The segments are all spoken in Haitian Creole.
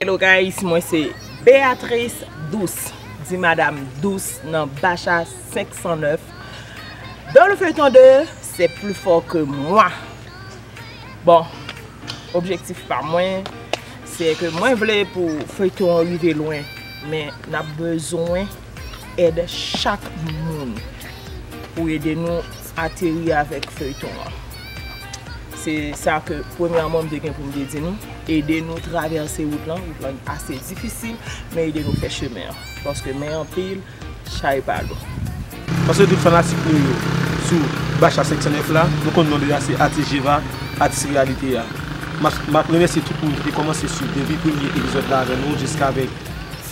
Hello guys, mwen se Beatrice Douce Di madame Douce nan Bacha 509 Dans le feuilleton de C'est plus fort que moi Bon, objektif pa mwen Se ke mwen vle pou feuilleton an rive lwen Men nap bezwen èd chak moun pou ede nou ateri avèk feyton an. Se sa ke premyèman m te gen pou m te di nou, ede nou travèse wout lan, wout lan ase difisil, men ede nou fè chemen an. Paske men anpil, chay pa lou. Paske tout fanatik nou yo sou Bacha 509 la, nou konn non li a se Atis Jeva, Atis Reyalite a. M ap remèsye tout moun ki te kòmanse swiv depi premye epizòd la avè nou jiskavèk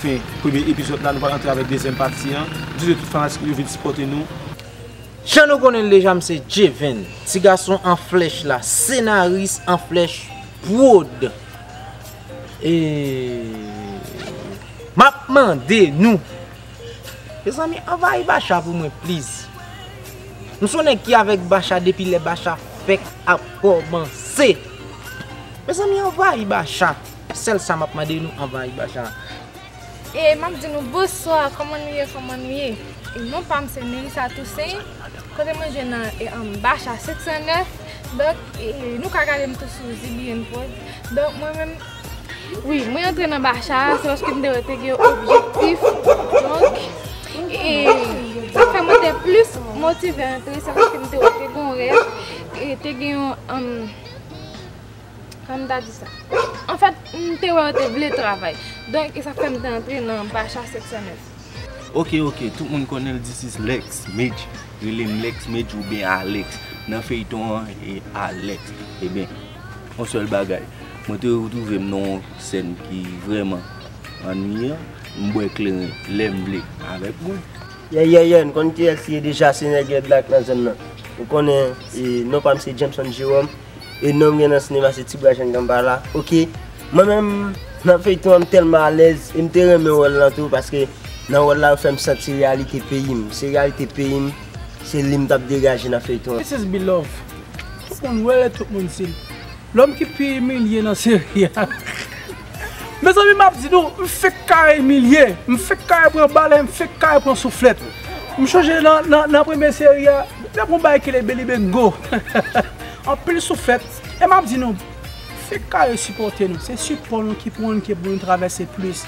Fin premye epizod la nou pral antre avek dezyem pati an di de tout fanatik nou yo vin sipote nou. Jan nou konnen l deja m se Jevin, ti gason an flèch la, senaris an flèch prod. E map mande nou Mezanmi anvayi Bacha pou mwen please. M son nèg ki avèk Bacha depi lè Bacha fèk ap kòmanse. Mezanmi anvayi Bacha. Sèl sa map mande nou anvan ay bajan. E map di nou bonswa koman nou ye koman nou ye e non pam se Melissa Toussaint kote mwen jwenn nan e anba cha 709 donk e nou ka gadem tou sou ZBN prod donk mwen menm wi mwen antre nan ba cha se paske mte wè te gen yon objektif donk e sa fè mwen te plis motive antre se paske mte wè te gen yon rèv e te gen yon Kòm m ta di sa. Anfèt, m te wè yo te vle travay. Donk, e sa k fè m te antre nan Bacha 709. Ok, ok, tout moun konnen l this is Lex Medjy Rele m Lex Medjy oubyen Alex Nan feyton an e Alex Eben, yon sèl bagay Mwen te retwouve m nan yon sèn ki vrèman annuiyan M bwè kleren lè m vle avèk mwen. Yeah yeah yeah, n konn kiyès li ye deja se nèg Red Black nan zòn nan. Ou konnen, e non pa m se Jameson Jerome e nonm gen nan sinema se Tibra Jan Ganbala ok mwen menm nan feyton an m tèlman alèz e m te renmen wòl lan tou paske nan wòl la yo fèm santi reyalite peyi m se reyalite peyi m se li m t ap degaje nan feyton an. This is Beloved tout moun wèl et tout moun di l lòm ki pi imilye nan seri a. Mezanmi map di nou, m fenk kare imilye, m fenk kare pran bal e m fenk kare pran souflèt. M chonje nan premye seri a, depi yon bagay ki rele Belibengo, anpil souflèt. E map di nou, fenk kare sipòte nou, se sipò nou ki pou anke pou nou travèse plis.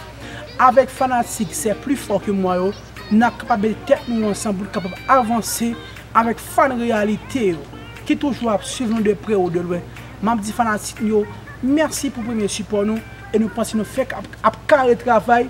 Avèk fanatik se pli fò ke mwa yo, nap kapab mete tèt nou ansanm pou nou kapab avanse avèk fan reyalite yo ki toujou ap swiv nou de pre ou de lwen. Map di fanatik m yo merci pou premye sipò nou e nou panse nou fenk ap kare travay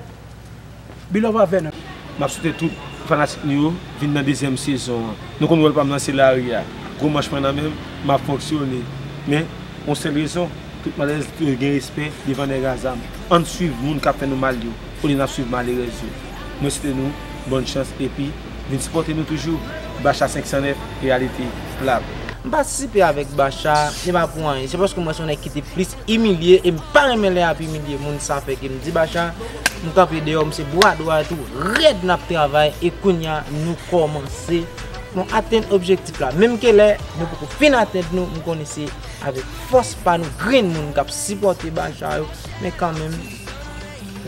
Beloved avè nou. Map swete tout fanatik nou yo vin nan dezyèm sezon an. Nou konn wòl pam nan se lari a. Gwo manch mwen nan menm, map fonksyone. Men, yon sèl rezon, tout malèz dwe gen respè devan nèg a zam. Ann swiv moun kap fè nou mal yo. Kote nap swiv malerèz yo. Mwen swete nou bòn chans epi vin sipòte nou toujou Bacha 509 reyalite lap. M patisipe avèk Bacha, se pa pou anyen, se paske m wè se yon nèg ki te plis imilye e m pa renmen lè yap imilye moun sa fè ke m di Bacha m kanpe deyò m se bwa dwat ou rèd nap travay e kounya nou kòmanse nou atenn objektif la menm ke lè nou poko fin atenn nou m konnen se avèk fòs pa nou grenn moun kap sipòte Bacha yo men kanmenm.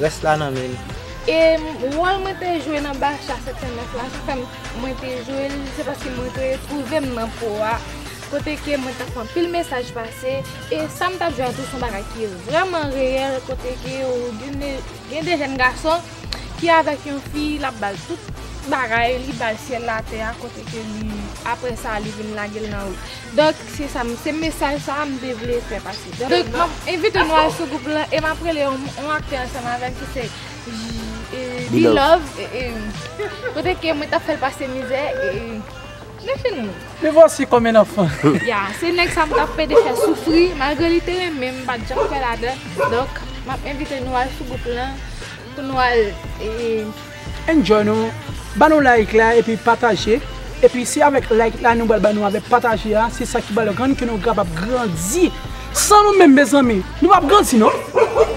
Rès la nan men nou. E wòl mwen te jwe nan Bacha 709 la ki fè m mwen te jwe l se paske mwen te twouve m nan po a kote ke mwen t ap fè anpil mesaj pase e sa m t ap jwe a tou se yon bagay ki vrèman reyèl kote ke gen de jèn gason ki avèk yon fi l ap ba l tout bagay li ba l syèl latè a kote ke li aprè sa li vin lage l nan ri. Donk se sa m, se mesaj sa a m te vle fè pase. Donk m ap envite nou al sou gwoup lan e m ap rele yon aktè ansanm avè m ki se Belovee kote ke mwen t ap fè l pase mizè e nou fini. Me voici comme un enfant. Ya, se nèg sa m t ap pede fè soufri malgre li te renmen m m pa t janm kwè ladan l. Donk m ap envite nou al sou gwoup lan pou nou al. Enjoy nou Ba nou like la epi pataje Epi se avèk like la nou pral ba nou avèk pataje a se sa ki pral rann ke nou kapab grandi San nou menm mezanmi nou pap grandi non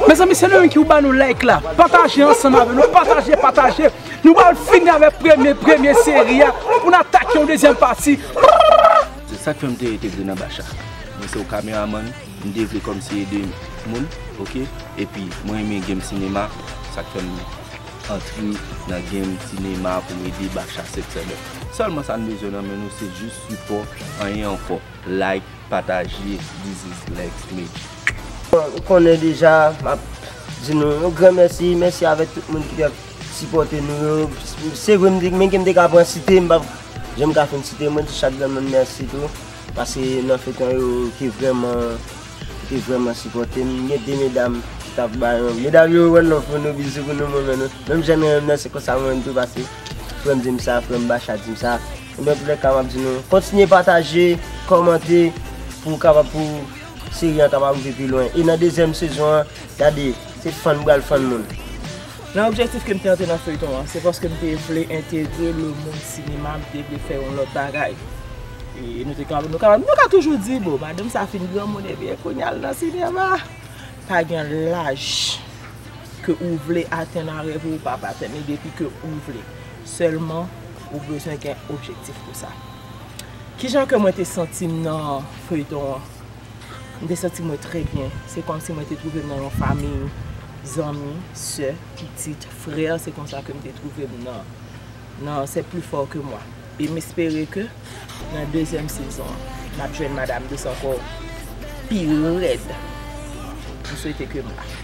Mezanmi se nou menm ki pou ba nou like la pataje ansanm avè nou pataje pataje Nou pral fini avèk premye premye seri a pou n atake yon dezyèm pati Rrrrrrr. Se sak fè m te entegre nan Bacha Mwen se yon kameramann m te vle kòmnse ede moun ok epi mwen renmen game sinema sak fè m. antre nan game sinema pou nou ede Bacha September. Sèlman sa n bezwen nan men nou se jis sipò anyen ankò like pataje this is Lex Mejii. Bon ou konnen deja map di nou yon gran mèsi, mèsi avèk tout moun ki tap sipòte nou yo, se vre men ke m te ka pran site m pap janm ka fin site mwen di chak granmoun mèsi tou paske nan feyton yo ki vrèman Te vreman sipote m gen 2 medam ki tap bay yon medam yo one love pou nou bizou pou nou m renmen nou menm jan nou renmen m nan se konsa m renmen tou pase frèm di m sa frèm bacha di m sa e nan toulè ka map di nou kontinye pataje kòmante pou kapab pou seri an kapab rive pi lwen e nan dezyèm sezon an gade se fann pral fann moun. Nan objektif ke m te antre nan feyton an, se paske m te vle entegre le mond sinema, m te vle fè yon lòt bagay. E nou te kapab, nou kapab, nou ka toujou di bon, madanm sa fin granmoun ebyen kounya l nan sinema. Pa gen laj ke ou vle atenn a rèv ou ou kab atenn li depi ke ou vle. Sèlman ou bezwen gen objektif pou sa. Kijan ke mwen te santi m nan feyton an? M te santi mwen trè byen. Se kòmsi mwen te twouve m nan yon famiy, zanmi, sè, pitit, frè, se konsa ke m te twouve m nan nan c'est plus fort que moi. E m espere ke nan dezyèm sezon an, n ap jwenn Madame Douce ankò pi rèd. M swete ke m la.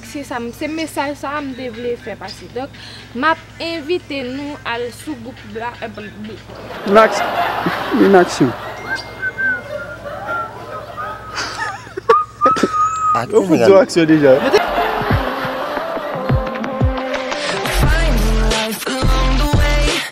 Se sa m, se mesaj sa a m te vle fè pase. Donk, m ap envite nou al sou gwoup la, Black. Yo fout di w aksyon deja.